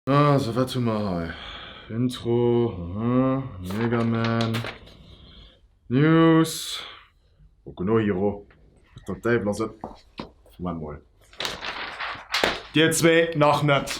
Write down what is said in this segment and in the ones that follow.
Ah, so wat hun mer hei? Intro, aha, Mega Man, News, Boku no Hero, wat der Däiwel ass et? Moment mol, dir zwee nach net.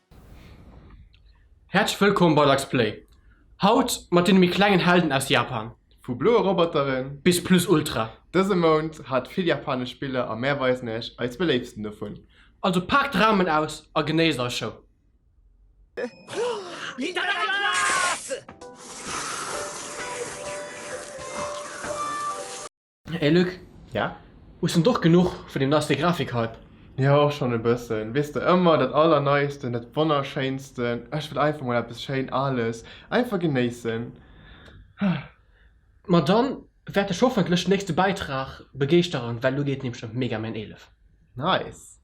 Häerzlech wëllkomm bei Lux Play! Haut mat deene méi klengen Helden aus Japan. Vu bloe Roboteren bis Plus Ultra. Dëse Mount hat vill japanesch Spiller a mär weisen iech eis beléiftsten dovun. Also paakt d'Raumen aus a genéisst eis Show! Ey Luc, Ja? hues en d'och genuch vun dem neiste Grafik-Hype? Jo, och schonn e bëssen. Weess de, ëmmer dat Allerneisten, dat Wonnerschéinsten. Ech wëll einfach mol eppes schéin Ales einfach genéissen. Ma dann wäert dech hoffentlech den nächste Bäitrag begeeschteren, well elo geet nämlech ëm Mega Man 11. Nice!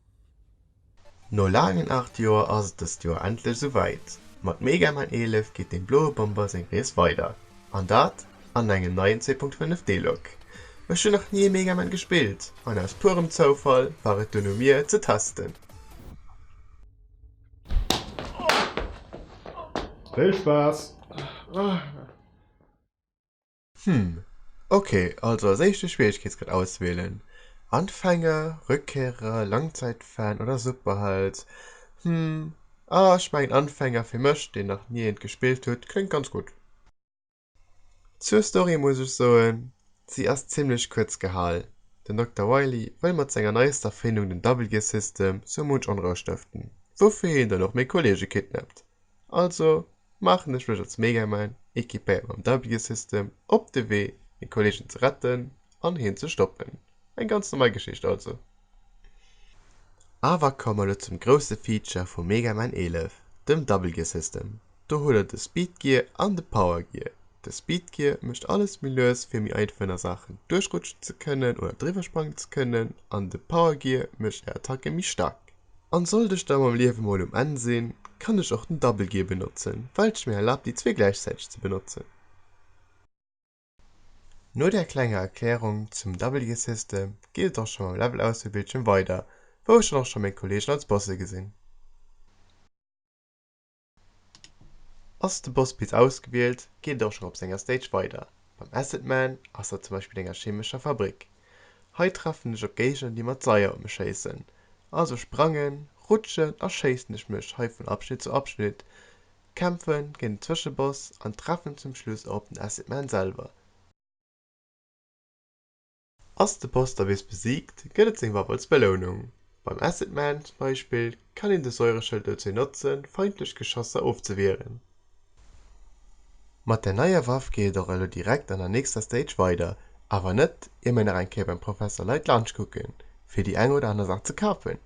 No laangen 8 Joer ass et dëst Joer endlech esou wäit, mat Mega Man 11 geet dem bloe Bomber seng Rees weider, an dat an engem neien 2.5 D-Lok. Ech hunn nach ni e Mega Man gespillt, an aus puerem Zoufall war et dunn u mir et ze testen. Vill Spaass! Hm, ok, also als éischte Schwieregkeetsgrad auswählen, Anfänger, Rückkehrer, Langzeitfan oder Superheld? Hm, ah ech mengen Anfänger, fir mech deen nach nie eent gespillt huet, kléngt ganz gutt. Zur Story muss ech soen, si ass zimlech kuerz gehal, den Dokter Wily wëll mat senger neiester Erfindung, den Double Gear System, sou munch Onrou stëften, woufir hien dann och méi Kollege kidnappt. Also maachen ech mech als Megaman, equipéiert mam Double-Gear System, op de Wee meng Kollegen ze retten an hien ze stoppen. Eng ganz normal Geschicht also. Awer komme mer elo zum grousse Feature vum Megaman 11, dem Double-Gear System. Do huet der de Speed-Gear an de Power-Gear. De Speed-Gear mécht alles méi lues fir méi einfach a Saachen duerchrutschen ze kënnen oder driwwersprangen ze kënnen an de Power-Gear mécht är Attacke méi staark. An sollt ech da mam Liewe mol um Enn sinn, kann ech och den Double Gear benotzen, well et mir erlaabt déi zwee gläichzäiteg ze benotzen. No där klenger Erklärung zum Double Gear System geet et och scho mam Level Auswiel Bildschierm weider, wou ech dann och scho meng Kollegen als Bosse gesinn. Ass de Boss bis ausgewielt, geet et och schonn op senger Stage weider. Beim Acid Man ass dat zum Beispill enger chemescher Fabrik. Hei treffen ech op Géigner déi mat Seier u mech schéissen, also sprangen, rutschen a schéissen ech mech hei vun Abschnitt zu Abschnitt, kämpfe géint en Zwëscheboss an treffen zum Schluss och op den Acid Man selwer. Ass de Poster bis besiegt, gëtt et seng Waff als Belounung. Beim Acid Man zum Beispill kann een de Säureschëld dozou notzen, feindlech Geschosser ofzewieren. Mat der neier Waff geet et och elo direkt an der nächster Stage weider, awer net ier mir nach eng Kéier beim Professor Light Lunch kucken, fir déi eng oder aner Saach ze kafen.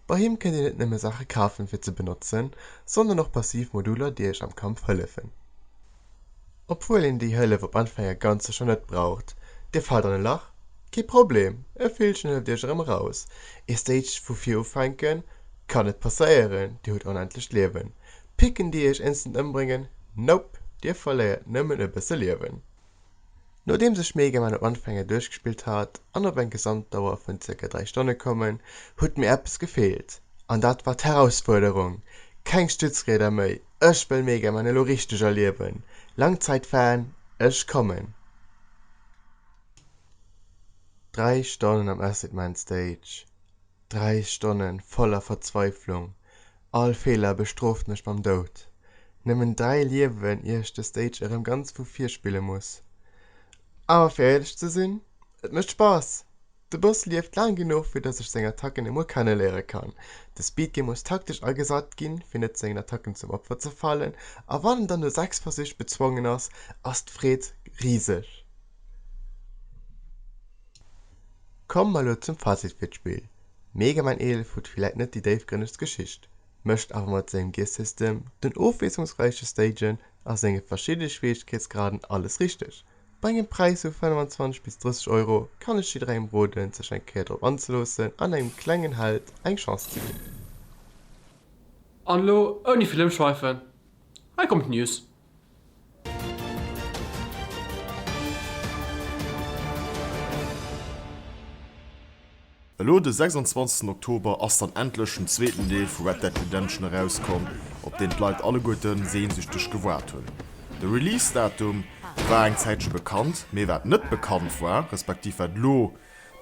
Bei him kënnt dir net nëmme Saache kafen, fir ze benotzen, sondern och passiv Moduler, déi iech am Kampf hëllefen. Obwuel een déi Hëllef op Anfang e ganze Joer net braucht. Dir faalt an e Lach? Kee Problem, e Villchen hëlleft iech erëm eraus. Ee Stage vu vir ufänken? Kann net passéieren, dir hutt onendlecht Liewen. Picken déi iech instant ëmbréngen? Nope, dir verléiert nëmmen e bësse Liewen. Nodeem sech Mega Man op Anfänger duerchgespillt hat an op eng Gesamtdauer vun zirka 3 Stonne kommen, hutt mir eppes gefeelt, an dat war d'Herausfuerderung! Keng Stützrieder méi, ech wëll Mega Man elo richteg erliewen! Langzeit-Fan, ech kommen! 3 Stonnen am Acid Man Stage. Dräi Stonne voller Verzweiflung, all Feeler bestrooft mech mam Doud. Nëmmen dräi Liewen ier ech de Stage erëm ganz vu vir spille muss. Awer fir éierlech ze sinn, et mécht Spaass! De Boss lieft laang genuch fir dass ech seng Attacken emol kenne léiere kann. De Speedgame muss taktesch agesat ginn, fir net sengen Attacken zum Opfer ze fallen, a wann en dann no 6 Versich bezwongen ass, ass d'Freed riseg. Kommen mer elo zum Fazit fir d'Spill, Mega Man 11 hutt villäit net déi déifgrënnegst Geschicht, mécht awer mat sengem Gear-System, den ofwiesslungsräiche Stagen a senge verschidde Schwieregkeetsgraden alles richteg. Bei engem Präis vu 25 bis 30 Euro kann ech jidderengem roden sech eng Kéier drop anzeloossen an engem klengen Held eng Chance ze ginn. An elo ouni vill ëmschweifen, hei kommen d'News. Elo de 26 Oktober ass dann endlech den zweeten Deel vu Red Dead Redemption erauskomm, op deen d'Leit alleguerten sehnsüchteg gewaart hunn. De Release Datum war eng Zäitche bekannt, mee wat net bekannt war, respektiv wat elo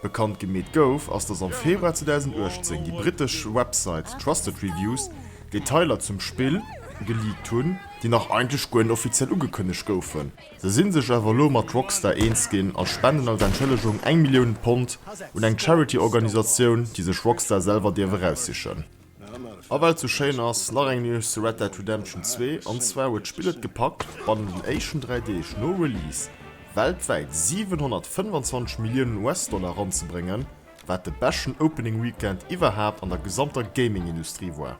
Bekannt gemeet gouf, ass dass am Februar 2018 déi brittesch Website Trusted Reviews Detailer zum Spill geleakt hunn, déi nach eigentlech guer net offiziell ugekënnegt goufen. Se si sech awer elo mat Rockstar eens ginn a spenden als Entschëllegung eng Millioun Pond un eng Charity-Organisatioun, déi sech Rockstar selwer dierf eraussichen. A well et sou schéin ass, nach eng News zu Red Dead Redemption 2, an zwar huet d'Spill et gepackt, bannen den éischten 3 Deeg no Release weltwäit 725 Milliounen US-Dollar eranzebréngen, wat de beschten Opening Weekend iwwerhaapt an der gesamter Gaming-Industrie war.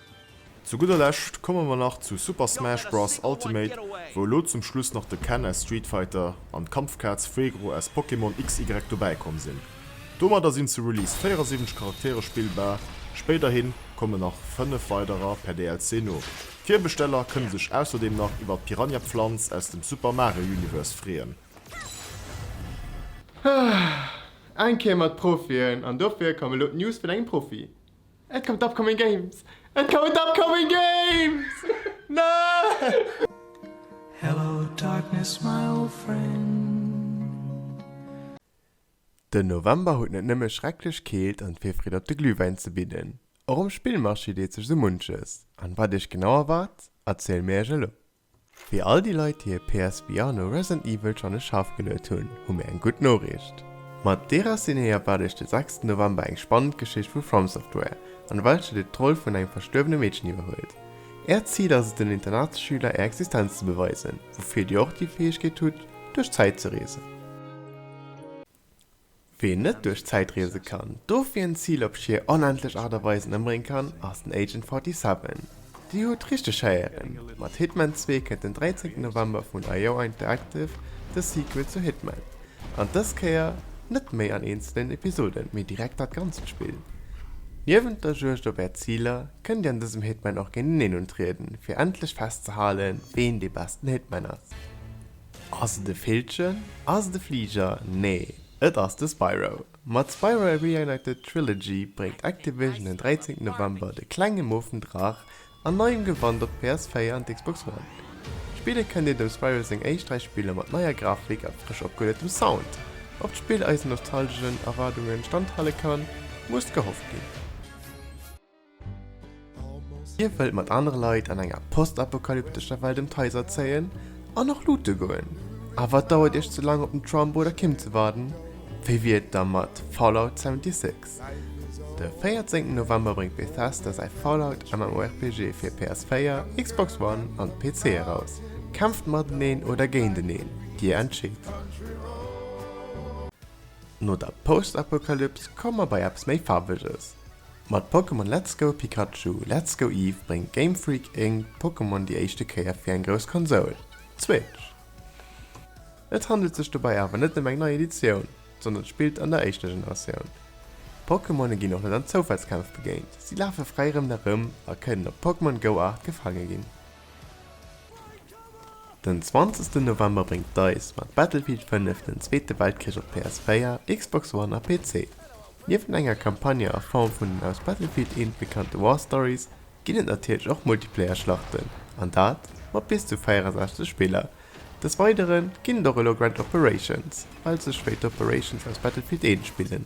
Zu gudder Lescht komme mer nach zu Super Smash Bros Ultimate, wou elo zum Schluss nach de Ken aus Street Fighter an d'Kampfkaz Fuegro aus Pokémon XY dobäi komm sinn. Domadder sinn zu Release 74 Charaktere spillbar, spéiderhin kommen nach 5 weiderer per DLC no. D'Virbesteller kënne sech ausserdeem nach iwwert d'Piranha Pflanz aus dem Super Mario Universe freeën. Eng Kéier mat Profien, an dofir komm elo d'News vun engem Profi. Et kommen d'Upcoming Games! Et kommen d'Upcoming Games! Nein! Hello darkness my old friend. Den November huet net nëmme schrecklech Keelt an d'Virfreed op de Glühwäin ze bidden. Och um Spillmarché deet sech sou munches. An wat iech genau erwaart, erziele mir iech elo. Fir all déi Leit, déi hir PS Vr no Resident Evil schonn e Schaff geluet hunn, hu mir eng gutt Noriicht. Mat Déraciné erwaart iech de sechsten November eng spannend Geschicht vu From Software, an welcher dir d'Roll vun engem verstuerwene Meedchen iwwerhuelt. Äert Zil ass et den Internatsschüler är Existenz ze beweisen, woufir dir och déi Fäegkeet hutt, duerch d'Zäit ze reesen. Ween net duerch d'Zäit reese kann, dofir en Zil op schier onendlech Aart a Weisen ëmbréngen kann, ass den Agent 47. Dir hutt richteg héieren, mat Hitman 2 kënnt den 13 November vun Aioa Interactive de Sequel zu Hitman, an dës Kéier net méi an eenzelen Episoden, mee direkt dat ganzt Spill. Niewent der Juegd op är Ziler, kënnt dir an dësem Hitman och géinteneen untrieden, fir endlech festzehalen, ween dee besten Hitman ass. Ass et e Villchen? Ass et e Fliger? Nee, et ass de Spyro. Mat Spyro A Reignited Trilogy bréngt Activision den 13 November de klenge moofen Draach an neiem Gewand op d'PS4 an d'Xbox One. Spille kënnt een dem Spyro seng éischt dräi Spiller mat neier Grafik a frësch opgehueletem Sound. Ob d'Spill eisen nostalgeschen Erwaardungen standhale kann, muss gehofft ginn. Dir wëllt mat anere Leit an enger postapokalyptescher Welt ëm d'Haiser zéien an och loote goen? Awer et dauert Iech ze laang op den Trump oder Kim ze waarden? Wéi wier et da mat Fallout 76? De 14 November bréngt Bethesda säi Fallout MMORPG fir PS4, Xbox One an PC eraus. Kämpft mateneen oder géinteneen? Dir entscheet! No der Postapokalyps komme mer bei eppes méi Faarweges. Mat Pokémon Let's Go Pikachu, Let's Go Eevee bréngt Game Freak Inc. Pokémon déi éischte Kéier fir eng grouss Konsoul, d'Switch. Et handelt sech dobäi awer net ëm eng nei Editioun, sondern spillt an der éischter Generatioun. D'Pokémone ginn och net an Zoufallskämpf begéint, si lafe fräi erëm a kënnen op Pokémon Go-Aart gefaange ginn. Den 20 November bréngt Dice mat Battlefield 5 den Zweete Weltkrich op PS4, Xbox One a PC. Niewent enger Campagne a Form vun den aus Battlefield 1 bekannte War Stories ginn et natierlech och Multiplayer Schlachten, an dat mat bis zu 64 Spiller. Des Weidere ginn et och elo Grand Operations, also spéider Operations aus Battlefield 1 Spillen,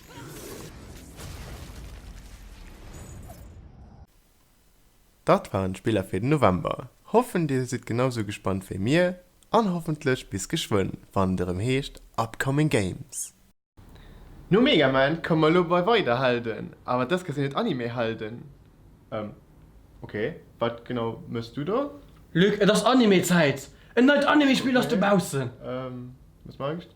Daat waren d'Spiller fir den November. Hoffen dir sidd genau sou gespannt wéi mir an hoffentlech bis geschwënn wann et erëm heescht Upcoming Games. No Mega Man komme mer elo bei weider Helden, awer dës Kéier sinn et Anime Helden. Ehm ok, wat genau mëchs du do? Luc, et ass Anime Zäit! En neit Anime Spill ass dobaussen! Ehm, wat mechs du?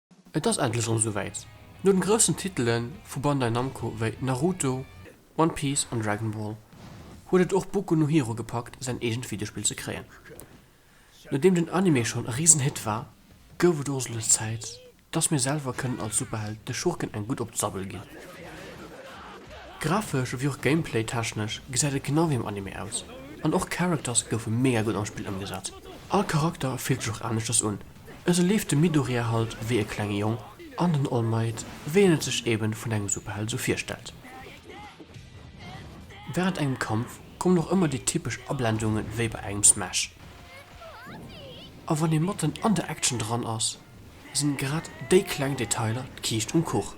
Et ass endlech erëm souwäit, No den groussen Titele vu Bandai Namco wéi Naruto, One Piece an Dragon Ball huet et och Boku no Hero gepackt säin eegent Videospill ze kréien. Nodeem den Anime schonn e risen Hit war, gouf et och lech Zäit dass mir selwer kënnen als Superheld de Schurken eng gutt op d'Sabbel ginn. Grafesch ewéi och Gameplay technesch gesäit et genau wéi am Anime aus an och Characters goufe mega gutt am Spill ëmgesat. All Charakter fillt sech och aneschters un. Esou leeft de Midoriya halt wéi e klenge Jong an den All Might wéi een et sech eben vun engem Superheld esou virstellt. Während engem Kampf kommen och ëmmer déi typesch Ablendungen wéi bei engem Smash. A wann ee matten an der Action dran ass, sinn grad déi kleng Detailer d'Kiischt um Kuch.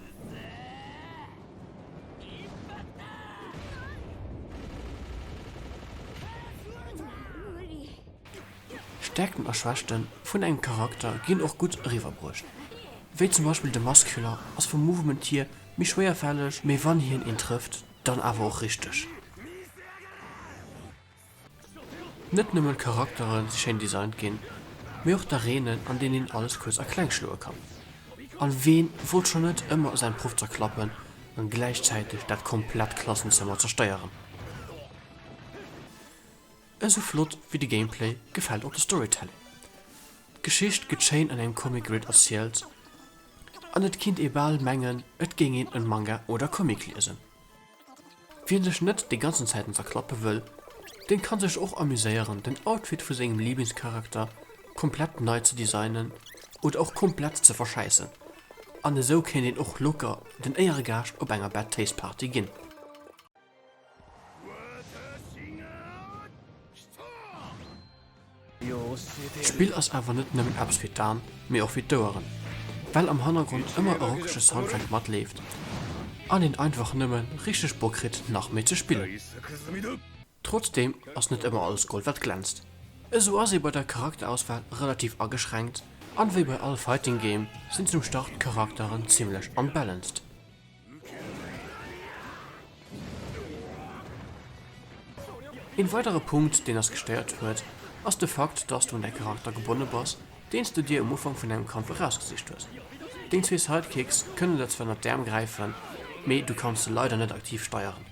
Stäerkten a Schwächten vun engem Charakter ginn och gutt eriwwerbruecht, wéi zum Beispill de Muscular ass vum Movement hier méi schwéierfälleg, mee wann hien een trëfft, dann awer och richteg. Net nëmmen d'Charaktere si schéin designt ginn, mee och d'Areenen an deenen een alles kuerz a kleng schloe kann. An ween wollt schonn net ëmmer säin Proff zerklappen an gläichzäiteg dat komplett Klassenzëmmer zersteieren? Esou flott wéi de Gameplay gefält och de Storytelling. D'Geschicht gëtt schéin an engem Comic Grid erzielt an et kinnt ee bal mengen et géing een en Manga oder Comic liesen. Wien sech net déi ganzen Zäiten zerklappe wëll, den kann sech och amuséieren den Outfit vu sengem Lieblingscharakter komplett nei ze designen oder och komplett ze verschäissen an esou kéint een och locker den Éieregaascht op enger Bad Taste Party ginn. D'Spill ass awer net nëmmen eppes fir d'An, mee och fir d'Oueren, well am Hannergrond ëmmer e rockege Soundtrack matleeft an een einfach nëmme richteg Bock kritt nach méi ze spillen. Trotzdeem ass net ëmmer alles Gold wat glänzt, esou ass ee bei der Charakterauswahl relativ ageschränkt an wéi bei all Fighting Game sinn zum Start d'Charakteren zimmlech unbalanced. Een weidere Punkt deen ass gestéiert huet ass de Fakt dass du un däi Charakter gebonne bass deens de dir um Ufank vun engem Kampf erausgesicht hues. Deng zwee Sidekicks kënnen der zwar ënnert d'Äerm gräifen mee du kanns se leider net aktiv steieren.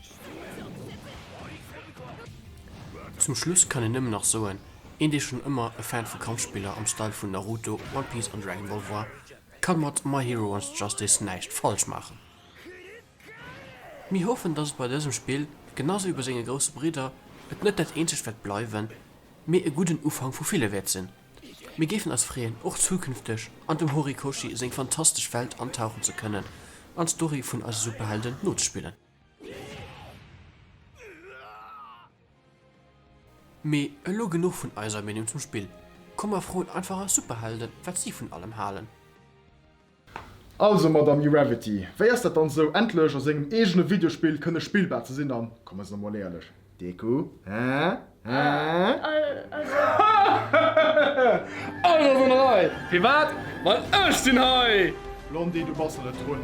Zum Schluss kann een nëmmen nach soen, een dee schonn ëmmer e Fan vu Kampfspiller am Style vun Naruto, One Piece an Dragon Ball war, Kann mat My Hero Wants Justice näischt falsch maachen. Mir hoffen dass et bei dësem Spill, genau sou wéi bei senge grousse Bridder, et net dat eenzegt wäert bleiwen, mee e gudden Ufank vu ville wäert sinn. Mir géifen eis freeën och zukünfteg an dem Horikoshi seng fantastesch Welt antauchen ze kënnen an d'Story vun eise Superhelden nozespillen. Mee elo genuch vun eiser Meenung zum Spill, komm mer froen einfach eis Superhelden wat si vun allem halen. Also Madame Uravity, wéi ass dat dann esou endlech a sengem eegene Videospill kënne spillbar ze sinn an, kommen se emol éierlech, Deku, hä? Hä? Ech sinn hei! Firwat? Well ech sinn hei! Blondie, du bass der net drun.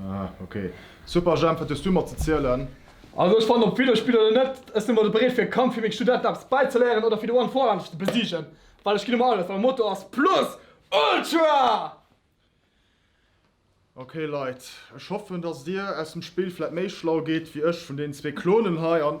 Ah ok. Super Jemp, wat hues du mer ze zielen? Also ech fannen op Wiederspill oder net, ech sin mol bereet fir e Kampf fir meng Studenten eppes bäizeléieren oder fir de One Four endlech ze besiegen, well ech gin ëmmer alles, well Motto ass Plus Ultra! Ok Leit, ech hoffen dass dir aus dem Spill vläit méi schlau geet wéi ech vun den zwee Klonen hei an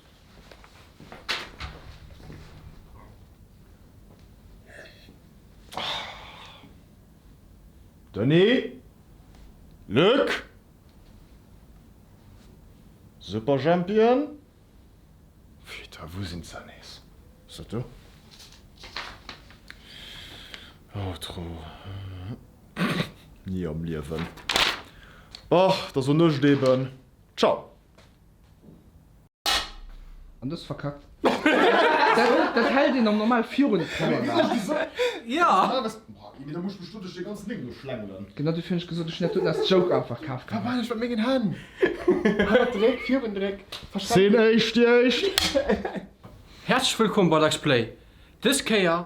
Denis? Luc? Superjhempien? Putain, wou sinn se nees? Ass dat do? Outro, Ni am Liewen! Bah, et ass o Nuecht eben. Ciao! An dës verkackt. Dat hält een am normal virun d'Kamera. Genau dofir hunn ech gesot, ech hunn dat doten als Joke einfach kaf gehat. Häerzlech wëllkomm bei Lexplay! Dës Kéier.